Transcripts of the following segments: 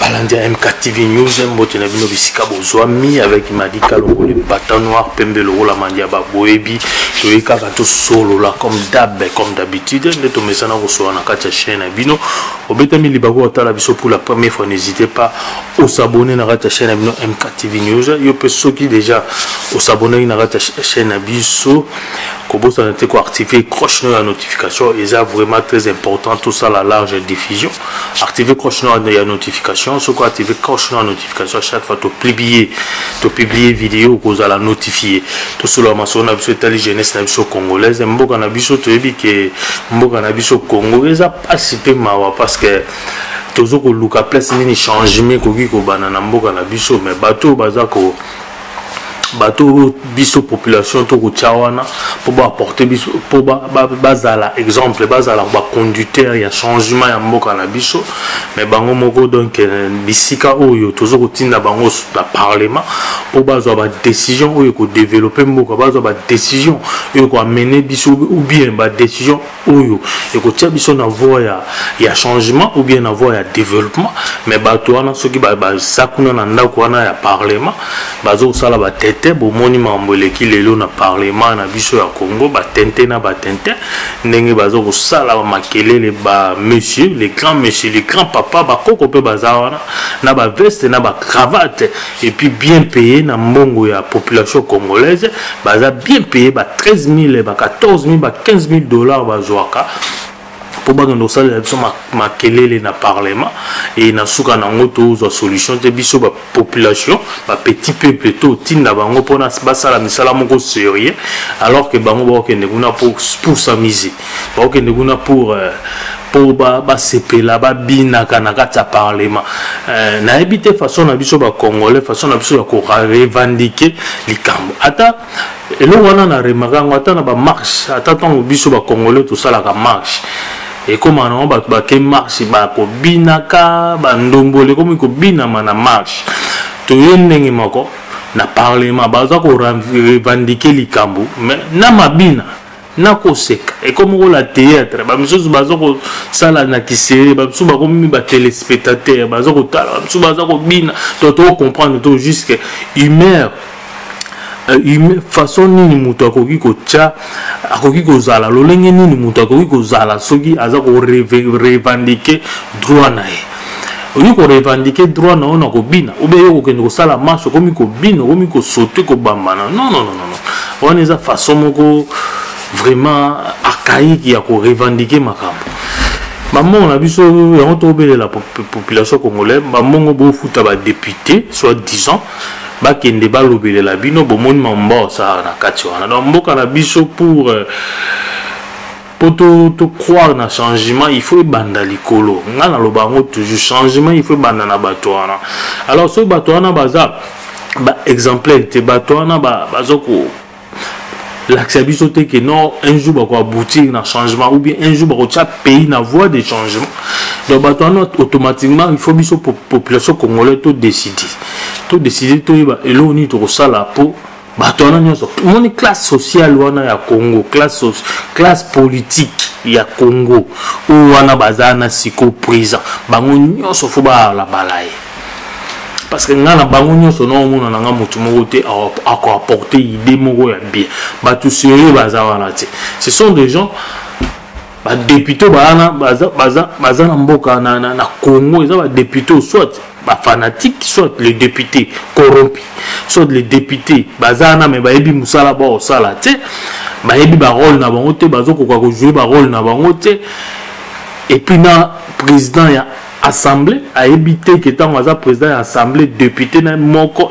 balandi ya mktv news mbote na bino bisika bozwami avec madika lokole bata noir pembe lokola mandi ya baboyebi toyei kaka tosolola comme dab comme d'habitude nde tomesana kosolola na kati ya chaine na bino obetami libaku otala biso pour la première fois n'hésitez pas osabone na kati ya chaine na bino mktv news yo mpe soki déjà osabonaki na kati ya chaine na biso kobosana te koactive cloche no ya notification eza vraiment très important tosala large diffusion activer cloche noire de la notification ce quoi activer cloche noire notification à chaque fois tu publier tu publier vidéo cause à la notifier tout cela ma son a besoin tali jeunesse na biso congolaise mboka na biso to yebi que mboka na biso congo eza pasi pe mawa parce que tozo ko luka place nini changement koki ko bana na mboka na biso mais bateau baza ko bato oyo biso population tokotya wana mpo baaporte biso mpo bazala exemple bazala baconducteur ya changement ya mboka na biso mais bango moko donc euh, bisika oyo toza kotinda bango na parlement mpo bazwa badécision oyo ekodeveloppe mboka bazwa badécision oyo ekoamene biso ou bien badécision oyo ekotia biso na voie ya, ya changement ou bien na voie ya développement mais bato wana soki baza kuna na ndako wana ya parlement bazosala batete bomoni makambo eleki lelo na parlement na biso ya congo batente na batente ndenge baza kosala makelele ba monsieur le grand monsieur le grand papa bakoko mpe baza wana na baveste na bacravate et puis bien payé na mbongo ya population congolaise baza bien payé ba 13 000 ba 14 000 ba 15 000 dollars bazwaka mpo bakende kosalela biso makelele na parlement e na suka na yango tozwa solution te biso bapopulation bapetit peuple totinda bango mpona basala misala moko serieux alors ke bango bakokende kuna pour s'amuser bakokende kuna pour euh, mpo basepela ba babinaka na kati ya parlement euh, nayebi te façon na biso bacongolais façon na biso ya korevendike likambo ata eloko wana na remaka yango ata na bamarche ata ntango biso bacongolais tosalaka marche ekóma nango bato bake marche bakobinaka bandombolo ekómi kobinama na marche toye ndenge moko na parlement baza korevendike likambo mais na mabina nakoseka ekomi kola théâtre bamisusu baza kosala na kisere bamisusu bakomi batelespectateur baza kotala bamisusu baza kobina to tokocomprendre to jusque humeur euh, façon nini moto akoki kotya akoki kozala lolenge nini moto akoki kozala soki aza korevendike droit na ye oyi ko revendiquer droit na yo na kobina oubien yo kokende kosala marche okomi kobina okomi kosote kobambana non non non non wana eza façon moko vraiment archaïque ya ko revendiquer makambo bambongo na biso yango tokobelela population congolaise bambongo bofuta badepute soit disant bakende balobelela bino bomoni mambo baosala na kati wana donc mboka na biso pour euh, mpo to, to croire na changement il faut ebanda likolo nga naloba yango toujours changement il faut ebanda na bato wana alors soki bato wana baza ba exemplaire te bato wana baza ko lakisa biso te ke non un jour bakoaboutir na changement ou bien un jour bakotia pays na voie de changement donc bato wana automatiquement il faut biso population congolais to décide to décide toyeba eloko nini tokosala mpo bato wana nyonso moni classe sociale wana ya congo classe, classe politique ya congo oyo wana baza na siko présent bango nyonso fo babalabala ye parce que ngai na bango nyonso naomona na ngai motu moko te akoapporte idée moko ya bien bato sérieux baza wana te ce sont des gens badepute oyo baana baza, baza, baza na mboka na, na, na congo eza badepute oyo soit bafanatique soit le député corrompu soit le député baza wana me bayebi mosala baosala te bayebi barole na bango te bazokoka kojoue barole na bango te epuis na président ya assemble ayebi te ke ntango aza président ya assemble député na moko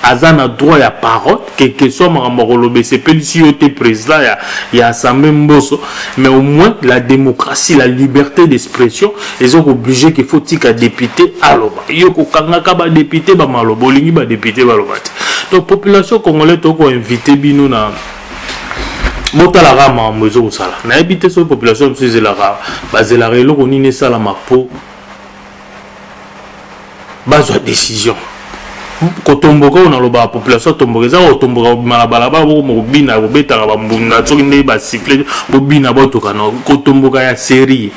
aza na droit ya parole quelque soit makambo ya koloba esepelisi yo te président ya, ya assemble mboso mais au moins la démocratie la liberté d'expression eza kooblige ke faut tika député aloba yo kokangaka badepute bamaloba olingi badepute baloba te donc population congolais tokoinvite bino na botalaka makambo ezokosala nayebi te soki population biso ezelaka bazelaka eloko nini esalama mpo bazwa décision kotomboka oyo nalobaka population atomboka eza kotomboka kobima na balabala bokoma kobina kobetaka bambunda soki nde basifle bobina botoka na kotomboka ya serie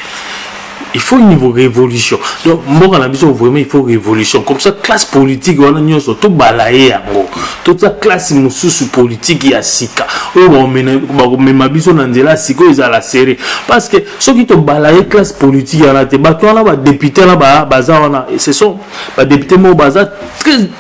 il faut une révolution donc mboka na biso vraiment il faut révolution comme ça classe politique wana nyonso tobala ye yango totia classe mosusu politique ya sika oyo bakomema biso na nzela sika oyo ezala serre parce que soki tobala ye classe politique wana te bato wana badepute wana baza wana ce sont badepute moko baza très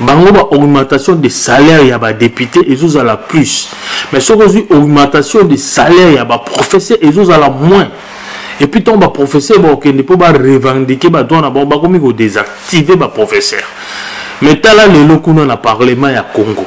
bango ba augmentation de salaire ya badepute ezozala plus mais soki ozwi augmentation de salaire ya baprofesseur ezozala moins epuis ntango baprofesseur bakokende mpo barevendike badroit na bango bakomi kodesactive baprofesseur mais tala lelo kuna na parlement ya congo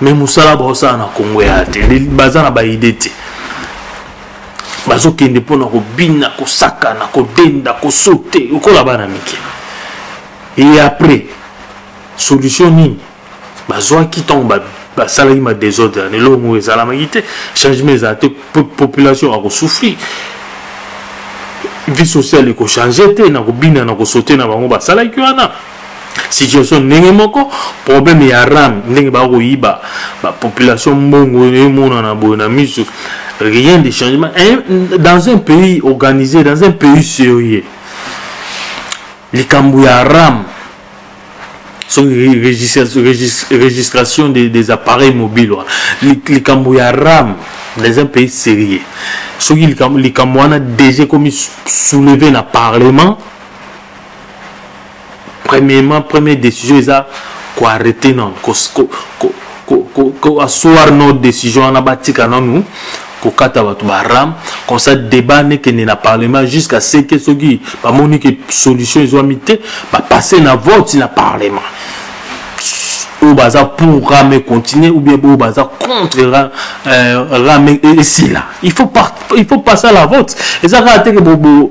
mais mosala baosala na congo ya te baza na baide te bazokende mpona kobina kosakana kodenda kosote lokola bana mike e après solution nini bazwaki ntango basalaki ba madesordre ya lelo ngo ezalamaki te changement ezala te population akosouffrir vie sociale ekochange te na kobina na kosote na bango basalaki wana situation ndenge moko problème ya ram ndenge bakoyiba bapopulation mbongo emonana boye na miso rien de changement eh, dans un pays organisé dans un pays sérieux likambo ya ram soki registration des, des appareils mobiles wana likambo ya ram dans un pays sérieux soki likambo wana déjà ekomi souleve na parlement premièrement première décision eza koarrete nanu koassoir no décision wana batika nanu kokata bato baram comme ça débat nekende na parlement jusqu'à ce que soki bamoni ke solution ezwami te bapasse na vote na parlement oyo baza pour ram econtinue ou bien oyo baza contre ram esila il faut passer à la vote eza kaka te ke bobo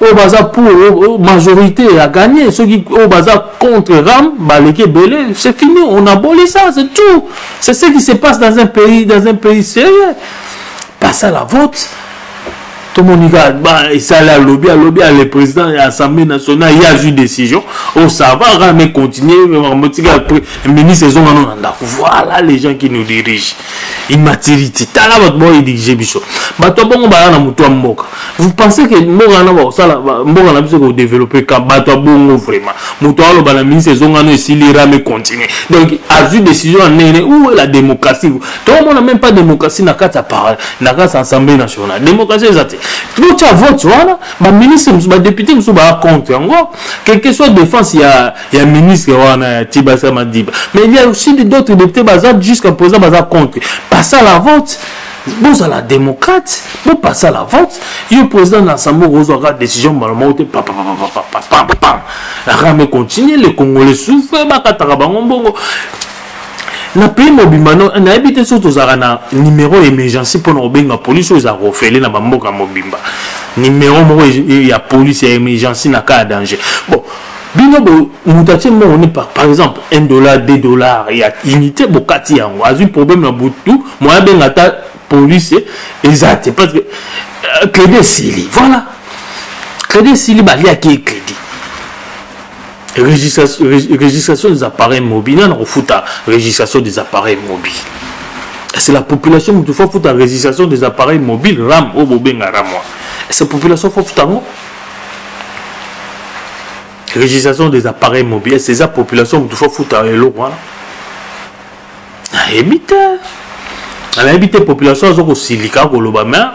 oyo baza pour majorité ya gagné soki oyo baza contre ram baleki ebele c'est fini on aboli ça c'est tout c'est ce qui se passe dans un pays dans un pays sérieux passe à la vote tomoni kaka esali alobi alobi ya le président ya assemblée nationale ye azwi décision osava oh, rame continue motika ministre ezongano na ndako voilà les gens qui nous dirigent immaturité tala bato baoedige biso bato ya bongo baya na moto ya mboka vous pensez ke mboka wana bakosala mboka na biso kodeveloppe ka bato ya bongo vraiment moto aloba na ministre ezongano esili rame continue donc azwi décision ya ndenge nini ou la démocratie toomona même pas démocratie na kati ya parle na kati ya assemblée nationale démocratie eza te botya vote wana baministre mosusu badepute mosusu baya compte yango quelque soit défense ya Il y a ministre wana ya Tibasa Madiba. Mais il y a aussi d'autres députés baza jusqu'à présent baza contre. Passer à la vote. bozala démocrate bopasa la vote yo président na assemblée okozwaka décision mbala moko te papapapapapapam arame continue le congolais souffre bakataka bango mbongo na pays mobimba nayebi te soki tozalaka na numéro ya émergency mpona kobenga polise oyo ezalaka ofele na bamboka mobimba numéro moko ya polise ya émergency na cas ya danger bon bino bo moto atie mbongo nini par exemple 1 dollar 2 dollar ya unité bokati yango azwi problème na butu moya abenga ata police eza te parce que euh, crédit esili voilà crédit esili baliaki ye crédit registration des appareils mobiles nana kofuta registration des appareils mobiles c'est la population moto fo afuta registration des appareils mobiles ram oyo bobenga ramwa c'est population fo afuta yango registration des appareils mobiles c'est la population moto fo futa eloko wana nayebi te nayebi te population aza kosilika koloba mais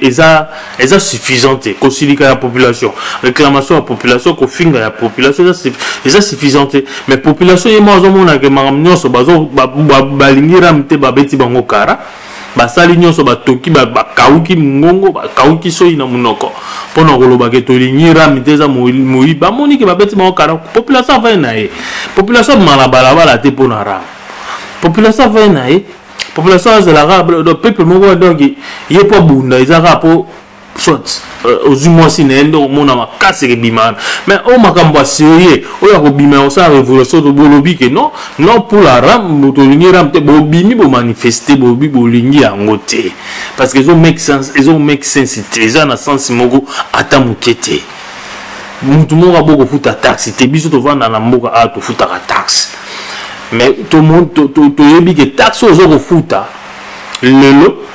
eza eza suffisant te kosilika ya population réclamation ya population kofinga ya population eza suffisant te mais population ye moko azomonake makambo nyonso balingi rame te babeti bango kara basali nyonso batoki bakauki mongongo bakauki soyi na monoko mpo na koloba ke tolingi rami te eza moyi bamoni ke babeti bango kara population avai na ye population abima na balabala te mpo na rami population avai na ye population azalaka peuple moko donc ye mpo abunda eza kaka mpo soit euh, ozwi mwasi na ye nde okomona makasi ekebima wana mais oyo makambo ya serie oyo akobima ya kosala révolution to bolobi ke non non pour la ram tolingi ram te bobimi bomanifeste bobi bolingi yango te parce que ezo make sense ezo make sense te eza na sense moko ata moke te motu moko abo kofuta taxe te biso tovanda na mboka awa tofutaka taxe mais toyebi ke taxe oyo oza kofuta lelo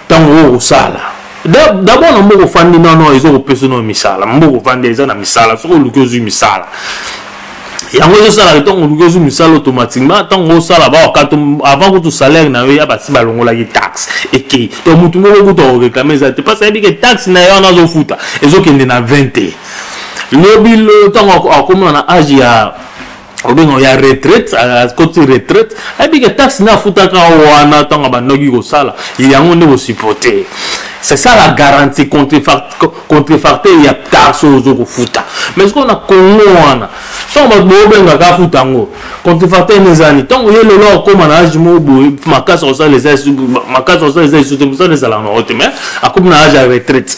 ntango oyo kosala dabord na mboka ofandi nono eza kopesa no misala mboka ofandi eza na misala soki oluki ozwi misala yango ezosalaka ntango oluki ozwi misala automatiquement ntango osala baokata avant kutu salaire na yo ya basi balongolaki taxe ekei to motu moko kutu akoreklame eza te parce ayebike taxe na yo wana azofuta ezokende na 20 te lobi ntango akoma na age ya obenga oya retraite akoti retraite ayebike taxe nde afutaka wana ntango abandoki kosala yango nde kosupporte c'est ça la garantie contrefacteur ya taxe oyo ozo kofuta mais sikoyo na congo wana ntango bato boobengaka afuta yango contrefacteur nde ezali ntango ye lelo akoma na age moko boye makasi akosala eza makasi akosala eza lisusu te mosala ezalaka na yango te mais akomi na age ya retraite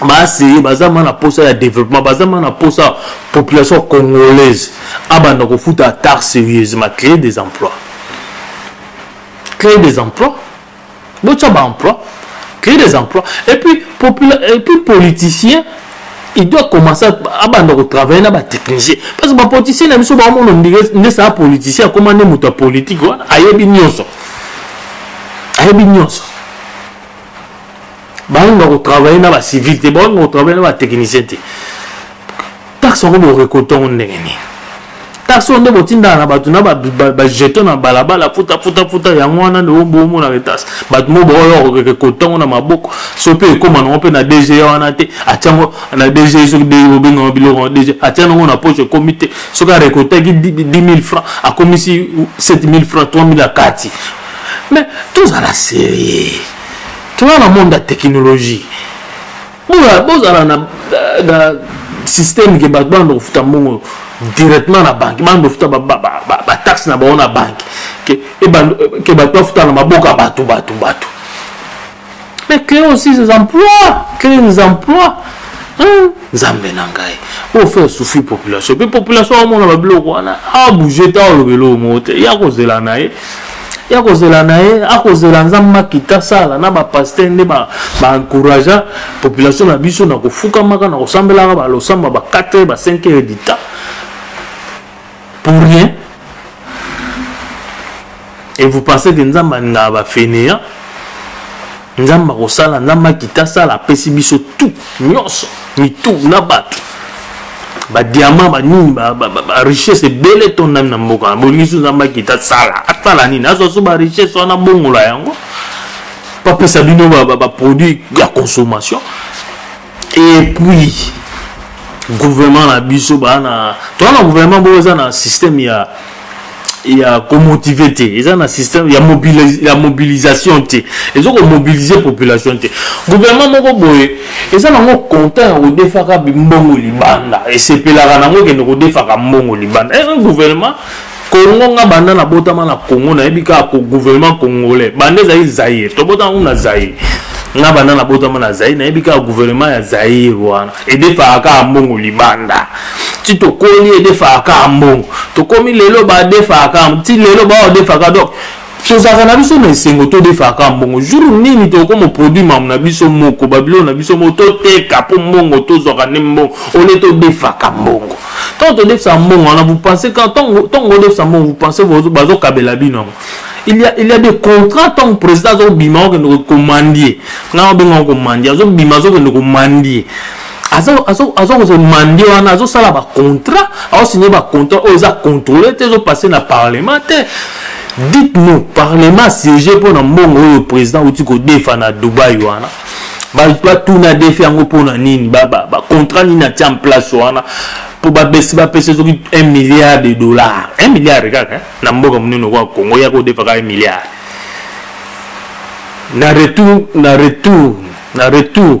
baaseye baza ma na mposa ya développement baza ma na mposa population congolaise abanda kofuta atar sérieusement créer des emplois créer des emplois botya baemploi créer des emplois et puis, et puis politicien il doit commencer abanda kotravaille na batechnicien parce que bapoliticien na biso baomona nde saa politicien akoma nde moto ya politike wana ayebi nyonso ayebi nyonso bango bako travailler na ba civil te bango bako travailler na ba technicien te taxe yango borekolte yango ndenge nini taxe oyo nde botindaka na bato na bajeton na balabala futa futa futa yango wana nde bomonaka taxe bato mo baoyorekolte yango na maboko so mpe ekóma nango mpe na dg wana te atya yango na dg soki dg bobengaka biloko na dg atya nango na poche ekómi te soki arekoltaki 10000 franc akomisi 7000 franc 3000 akati mais tozala serie toza na monde ya technologie bozala na système ke bato banda kofuta mbongo directement na banke banda kofuta bataxe na bango na banke ke bato bafuta na maboka bato bato bato mais créer aussi ces emplois créer des emplois hein? nzambe na ngai oyo fe souffri population mpe population amona babiloko wana abouge ta oloba eloko moko te ye akozela na ye ya kozela na ye akozela nzambe makita sala na bapaster nde baencouragea ba population na biso na kofukamaka na kosambelaka balosamba ba 4 ba 5 heures du temps pour rien et vous pensez que nzambe alingaka bafeneya nzambe akosala nzambe akita asala apesi biso tout nyonso mitu na bato badiama banini barichesse ebele etondami na mboka na bolingisi nzambe akita asala asala nini azwa so barichesse wana bongola yango bapesa bino baproduit ya consommation et puis gouvernement na biso baa na toza na gouvernement moko eza na système ya ya komotive te eza na système ya, mobilis, ya mobilisation te ezo komobilize population te gouvernement moko boye eza nango content ya kodefaka mbongo libanda esepelaka nango ekende kodefaka mbongo libanda e eh, eh, gouvernement Congo nga banda na botama na Congo na yebi ka ko gouvernement congolais banda ezali Zaire to botama kuna Zaire nga banda na botama na Zaire na yebi ka gouvernement ya Zaire wana et des fois ka mbongo libanda ti tokoli edefaka mbongo tokomi lelo badefaka ti lelo baodefaka donc tozalaka na biso na esengo todefaka kaka mbongo jour nini tokoma produit mamu na biso moko babiloko na biso moko toteka mpo mbongo tozwaka nde mbongo ole todefaka mbongo ntango todefisa mbongo wana vous pensez ntango odefisa mbongo vous pensez bazokabela bino yango il y a, il y a des contrats ntango président azobima okende komandie ngai abengaka komandie azobima azokende komandie aza kozwa mande wana azosala bacontrat aosigne bacontrat oyo eza contrôle te ezopasse na parlement te dites nous parlement siège mpo na mbongo oyo président auti kodefa na dubai wana batuna defi yango mpo na nini bacontrat nini atia en place wana mpo babesi bapesi soki 1 milliard de dollar 1 milliard kaka na mboka monene okoa congo ya kodefa kaka 1 milliard na retour na retour na retour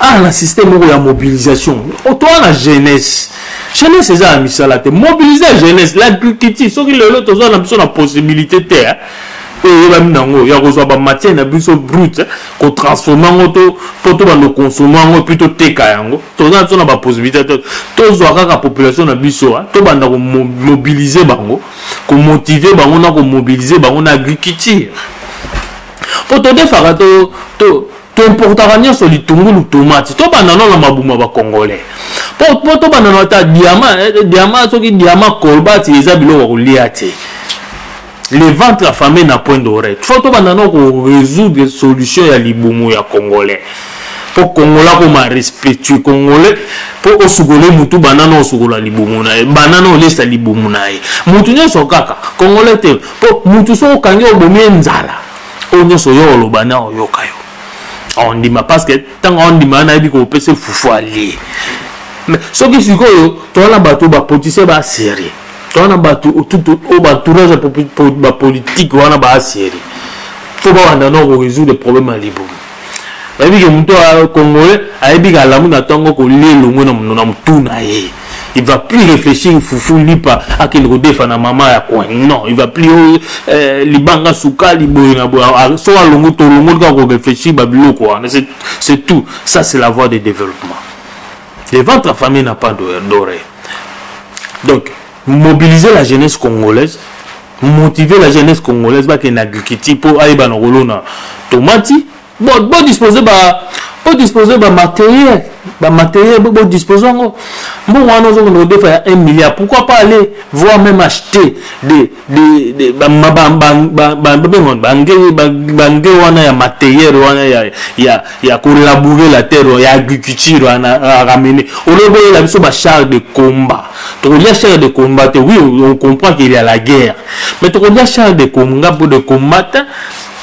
awa ah, na système moko ya mobilisation otoa na jeunesse jeunesse eza ya misala te mobilise ya jeunesse l'agriculture soki lelo toza na biso na possibilité te eh. oyo eyebami nango ya kozwa bamatière na biso brute eh, kotransforme yango to mpo tobanda konsome yango epuis toteka yango toza na biso na bapossibilité te tozwa kaka population na biso eh, tobanda komobilize bango komotive bango na komobilize bango na agriculture mpo todefaka to, to, toimportaka nyonso litungulu tomati tobanda no na mabuma bacongolais mpo tobanda no ata diama eh, eh, diama soki diama colbati eza biloko ya kolia te le ventre affamé na point d'oreille fo tobanda no korésoudre solution ya libumu ya congolais mpo congolais akoma respectue congolais mpo osukole motu banana osukola libumu na ye banana olesa libumu na ye motu nyonso kaka congolais te po mutu soki okangi obomi ye nzala oyo nyonso oyo oloba na oyoka yo ondima parce que ntango ondima nayebi kopesa fufu alie mais soki sikoyo toza na bato bapolitisien baserie toza na bato oyo baentourage bapolitike wana baserie fo bawanda noko résoudre problème ya libumu bayebi ke moto ya congolais ayebi ke alamu na ntango kolia elongwe na motu na ye il va plus réfléchir fufu lipa akende kodefa na mama ya coin non il va plus oh, eh, libanga sukali boye na boye ah, so alongo tolongoli kaka koréfléchir babiloko wana c'est tout ça c'est la voie de développement le ventre affamé n'a pas doré donc mobiliser la jeunesse congolaise motiver la jeunesse congolaise bakende agriculture mpo ayeba na kolona tomati bodispose ba bodispose bamateriel bamateriel bodispose yango mbongo wana ozokende kodefa ya 1 milliard pourquoi pas aller voir même acheter bange wana ya materiel wana ya kolaboure la terre ya agriculture wana ramene oloboyela biso bachar de combat tokolia chair de combat oui on comprend qu'il y a la guerre mais tokolia chair de combat de combat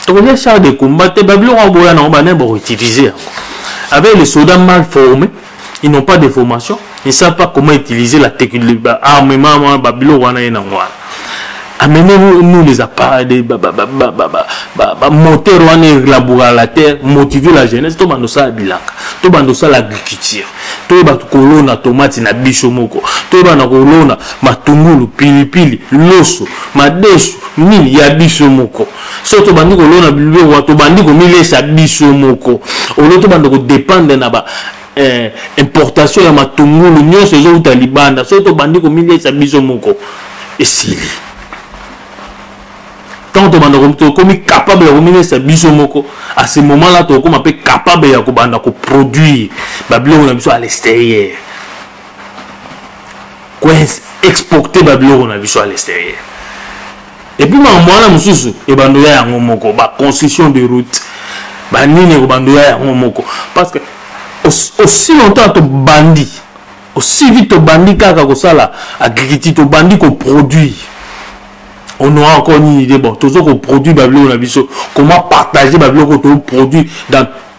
tokolia chair de combat te babiloko yango boya nango banaye bakoutilize yango avec les soldats mal formés ils n'ont pas de formation ils ne savent pas comment utiliser la armement babiloko wana ye nango wana amenez nous les appareils des ba, ba, ba, ba, ba, ba, ba, ba, moteur wana elaboura la terre motiver la jeunesse to bando sala bilanga to bando sala agriculture to yeba kolona tomate na biso moko to yeba na kolona matungulu pilipili loso madesu nini ya biso moko so tobandi kolona biloko tobandi komilesa biso moko olio tobanda kodependre na ba eh, importation ya matungulu nyonso ezowuta libanda soki tobandi komiliesa biso moko esili ntango tobanda tokomi capable ya komiliesa biso moko à ce moment là tokokoma mpe capable ya kobanda koproduire babiloko na biso à l'extérieur koexporte babiloko na biso à l'extérieur et puis makambo wana mosusu ebando ya yango moko ba construction de route banini ekobando ya yango moko parce que aussi longtemps tobandi aussi vite tobandi kaka kosala agriculture tobandi koproduire on aura encore une idée bon tozo koproduire babiloko na biso comment partager babiloko toproduire dans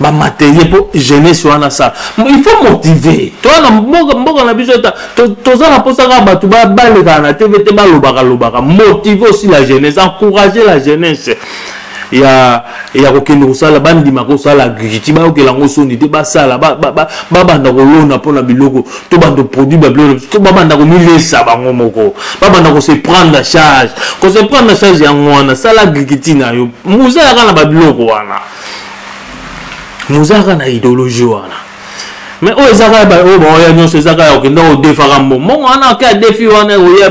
bamaterie mpo jeunesse wana sala il faut motive toza na mboka mboka na biso ta toza na mposa kaka bato balekaka na tv te balobaka lobaka motive aussi la jeunesse encourager la jeunesse ya ya kokende kosala bandima kosala agriculture bayokela yango soni te basala babanda kolona mpo na biloko to bando produit bablo to babanda komilesa bango moko babanda kose prendre na charge kose prendre na charge yango wana sala agriculture na yo mozalaka na babiloko wana mozalaka na idéologie wana mais oyo ezaka oyo baoya nyonso ezaka ya okenda odefaka mbongo mbongo wana oke adefi wana oya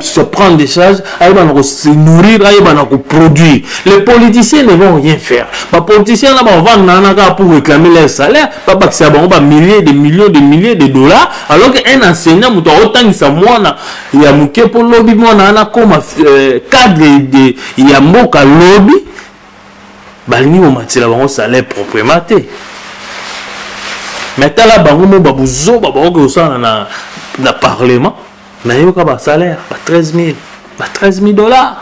se prendre des charges ayeba na se nourrir ayeba na produire les politiciens ne vont rien faire ba politiciens là ba vendre na kaka pour réclamer leur salaire ba bakisa bango ba milliers de millions de milliers de dollars alors que un enseignant moto akotangisa mwana ya moke mpo lobi mwana wana akoma euh, cadre de ya mboka lobi balingi komatela bango salaire proprement te mais tala bango mo babuzoba bakoki kosala na, na parlement nayoka ba salaire ba 13000 ba 13000 dollars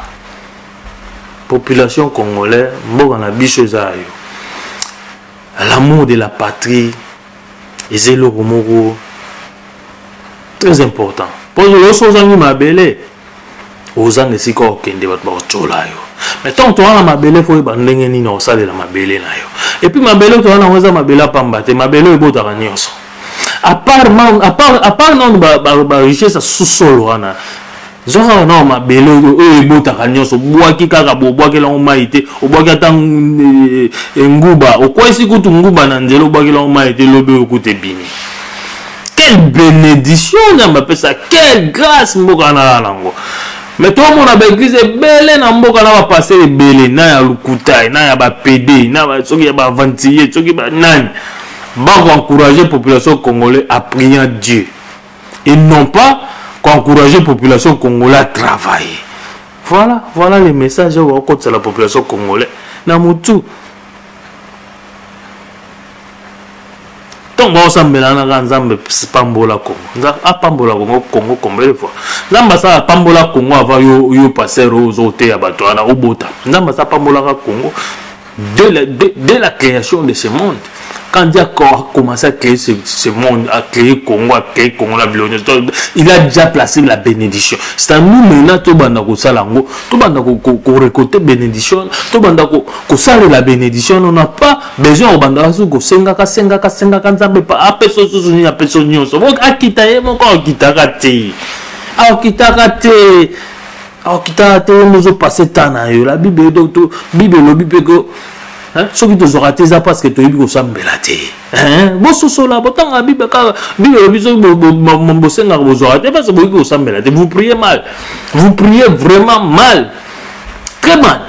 population congolais mboka na biso eza yo l'amour de la patrie eza eloko moko très important mpo nyonso ozangi mabele ozanga esika okende bato bakocola yo mais ntango toza na mabele fo oyeba ndenge nini okosalela mabele na yo epuis mabele toza nango eza mabele apamba te mabele oyo ebotaka nyonso apart nano barichesse ya susolo wana zwa kaka nao mabele oyo ebotaka nyonso obwaki kaka bobwakeli yango mai te obwaki ata eh, eh, nguba okwesi kutu nguba na nzela obwakeli yango mai te lobi oyo kutu ebimi quelle benedition nzambe apesa quelle grâce mboka naya nango me tomona baeglize ebele na mboka na bapastere ebele na ya lukutai na ya bapede na soki ya baaventurier soki banani bakoencourage population congolais à priant dieu et non pas koencourage population congolais à travailler voilà voilà le message oyo bakokotisa la population congolais na motu ntango baosambela na kaka nzambe pambola kongo nzambe apambola kongo kongo combele fois nzambe asala apambola kongo ava yo, yo paster oyo ozoteya bato wana obota nzambe asa apambolaka kongo dès la, dès, dès la création de ce monde quand Dieu a commencé à créer ce, ce monde, à créer Congo, à créer Congo, la Bilogne, il a déjà placé la bénédiction. C'est à nous maintenant, tout le monde a récolté bénédiction, tout le monde a kosalela benediction wana na pa besoin ya kobandaka soki kosengaka sengaka sengaka nzambe pa apesa osusu nini apesa nyonso bo akita ye moko akitaka te akitaka te akitaka te ye mozo passe temps na yo la bible bible elobi mpe ko soki tozwaka te eza parce que toyebi kosambela te bososola botanga bible kaka bible elobi soki bosengaka bozwaka te parce que boyebi kosambela te vous priez mal vous priez vraiment mal très mal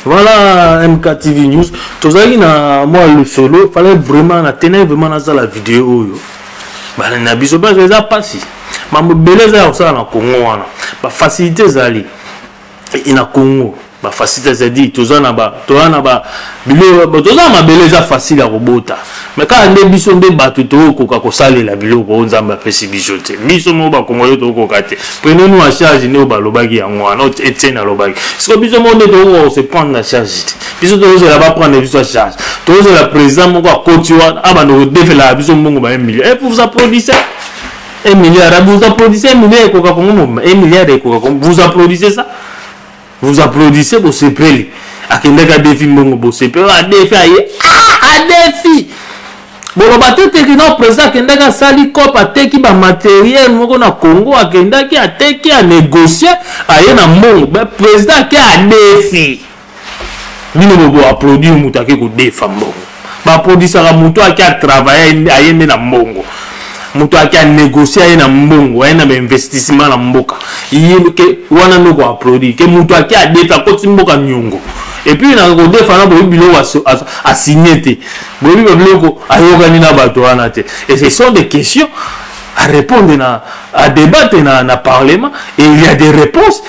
voilà mktv news tozalaki na mwa lisolo fallait vraiment na tenai vraiment nazala video oyo bana na biso parce eza mpasi mambo ebele eza ya kosala na congo wana bafacilité ezali e, e, na congo bafacilité ezali toza na ba biloko toza na mabele eza facile ya kobota me kaka nde biso nde bato tokokoka kosalela biloko oyo nzambe apesi biso te biso moko bakongole tokokoka te prenez nous en charge nde oyo balobaki yango wana oyo etiene alobaki siko biso moko nde tokokoka kose prendre na charge te biso tokozela baprendre biso ya charge tokozela président moko akoti wana abanda kodefelaka biso mbongo ba 1 million e pour vous applaudissez un milliard vous applaudissez un milliard ekoka kongo mobima un milliard ekoka kongo vous applaudissez ça vous applaudissez bosepeli akendaki adefi mbongo bosepeli oh, adefi aye ah, adefi boloba te teke na président akendaki asali cope ateki bamateriel moko na congo akendaki ateki anegocie aye na mbongo président ake adefi bino bobo applaudir moto ake kodefa mbongo baproduisaka moto ake atravaille aye nde na mbongo moto ake anegocie aye na mbongo aye na bainvestissement na mboka ke wana noko aprodi ke moto ake adefi akoti mboka niongo epuis na kodefa na boyebi biloko asigne te boyebi babiloko ayokani na bato wana te et ce sont des questions à répondre na à débattre na, na parlement et il y a des réponses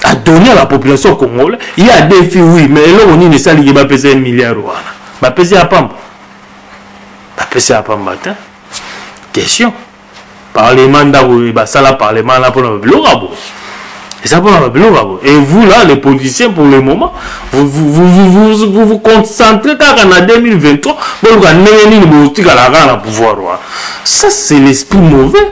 a donné à la population congolais ye adefi oui mais eloko nini esali ye bapesa ye milliard wana bapesi ya pamba bapesi ya pamba te question parlement ndako basala parlement wana mpona babiloko ya boye eza mpona babiloko ya boye et vous là les politiciens pour le moment vous vous, vous, vous, vous, vous, vous concentrez kaka na 2023 boluka ndenge nini botikala kaka na pouvoir wana ça c'est l'esprit mauvais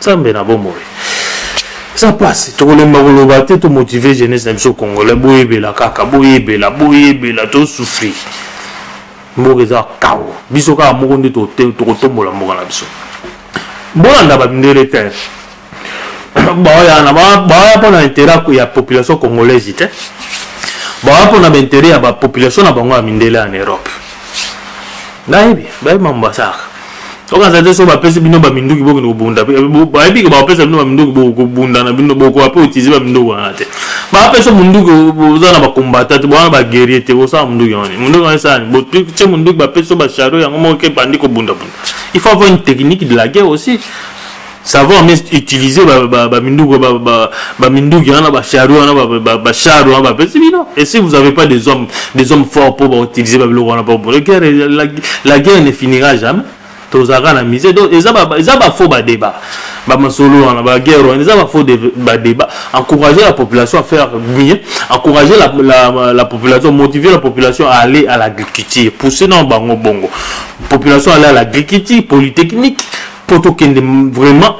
nzambe na bomoi eza mpasi tokolemba koloba te tomotive jeunesse na biso congolais boyebela kaka boyebela boyebela tosufri mboka eza kao biso kaka moko nde tokotombola mboka na biso bolanda bamindele te baoyana baoya mpo na interet ya population congolaise te baoya mpo na bainteret ya bapopulation na bango ya mindele en europe nayebi bayebi mambo basalaka soki azali te soki bapesi bino baminduki bokende kobunda bayebi ke bapesa bino baminduki bokobunda na bino bokoka mpe otise baminduki wana te bapesa munduki oza na bakombata te bowana baguerrie te bosala munduki wana munduki wana esalani botie munduki bapesi yo bacharo yango moko ke bandi kobundabunda il faut avoir une technique de la guerre aussi savoir mais utiliser baminduki ba, ba, ba, minduki wana bachari wana bachari wana bapesi bino et si vous avez pas des hommes des hommes forts mpo bautiliser babiloko wana mpo la guerre la, la guerre ne finira jamais tozalaka na mise donc eza bafaux badébat bamasolo wana baguerre wana eza bafaux badébat encourager la population à faire bien encourager la, la, la population motiver la population à aller à l'agriculture pousser na bango bongo population aller à l'agriculture polytechnique mpo tokende vraiment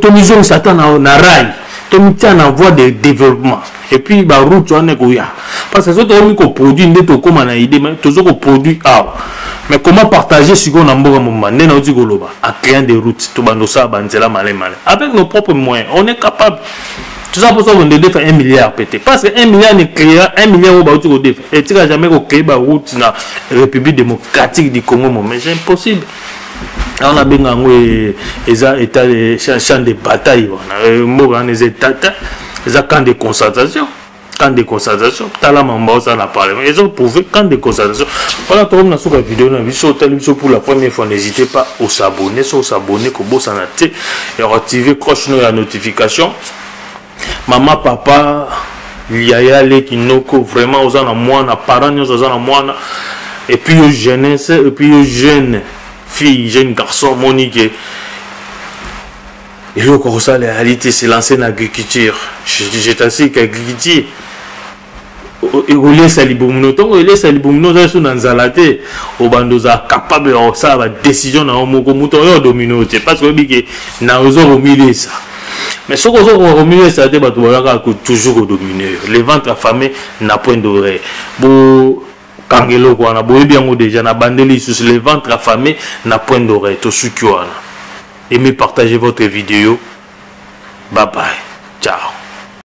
tomizongisa ata na rail tomitya na voie de développement et puis baroute wana ekoya parce que soki tokomi koproduire nde tokóma na idée mai tozo koproduire awa mais comment partager sikoyo na mboka mobimba nde nauti koloba a créant des routes tobanda osala banzela malai malai avec nos propres moyens on est capable toza mposa konde defa 1 milliard mpe te parce que 1 milliard ne créera 1 milliard oyo bauti kodefa etika jamais kocree baroute na république démocratique du congo moment c'est impossible wana abenga yango e, eza eta e, champ de bataille wana e, mboka wana eza etata eza camp de concentration camp de concentration tala mamba oza na parlement ezo prouve camp de concentration wana tokomi na suka video na biso otali biso pour la première fois n'hésitez pas osabonne so osabonne kobosana te ya koactive croche no ya notification mama papa yaya leki noko vraiment oza na mwana parent nyonso aza na mwana epuis yo jeunesse epuis yo jeune fille jeune garçon moni ke eloko akosala yali te se lance na agriculture je, je t'assure qu'agriculture ekolesa libumu no ntongo elesa libumu no ozali so na nzala te obanda ozala capable ya kosala badecision na yo moko moto oyo domino te parce que oyebi ke na oza komilesa mais soki oza koka komilesa te bato baza kaka toujours kodomine yo le ventre affamé na point d'oreille bo kanga eloko wana boyebi yango déjà na bandeli lisusu le ventre affamé na point d'oreille tosuki wana aimez partager votre vidéo bye bye ciao